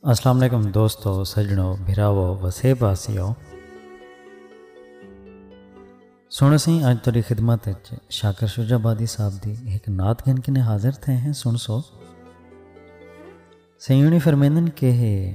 السلام علیکم دوستو سجنو بھراو وسے باسیو سن سی اج تیری خدمت اچ شاکر شجا بادی صاحب دی ایک نعت گن کنے حاضر تھے ہیں سن سو سیونی فرمیندن کہ ہے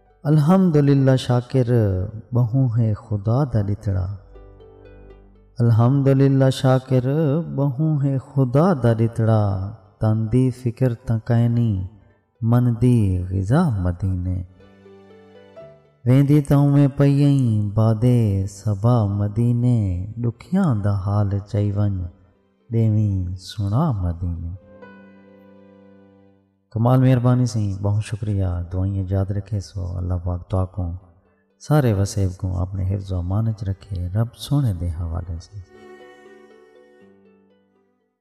الحمدللہ شاکر ٻہوں ہے خدا دا ݙتڑا۔ الحمدللہ شاکر ٻہوں ہے خدا دا ݙتڑا تن دی فکر تاں کائنی من دی غذا مدینے ویندی تاں اونویں پئی ایں باد صبا مدینے ݙکھیاں دا حال چائی ونڄ ݙیویں سݨا مدینے۔ کمال مہربانی سئیں بہوں شکریہ دعائیں اچ یاد رکھے سو اللہ پاک تہاکوں سارے وسیب کوں اپنے حفظ و امان اچ رکھے رب سوہنے دے حوالے سئیں۔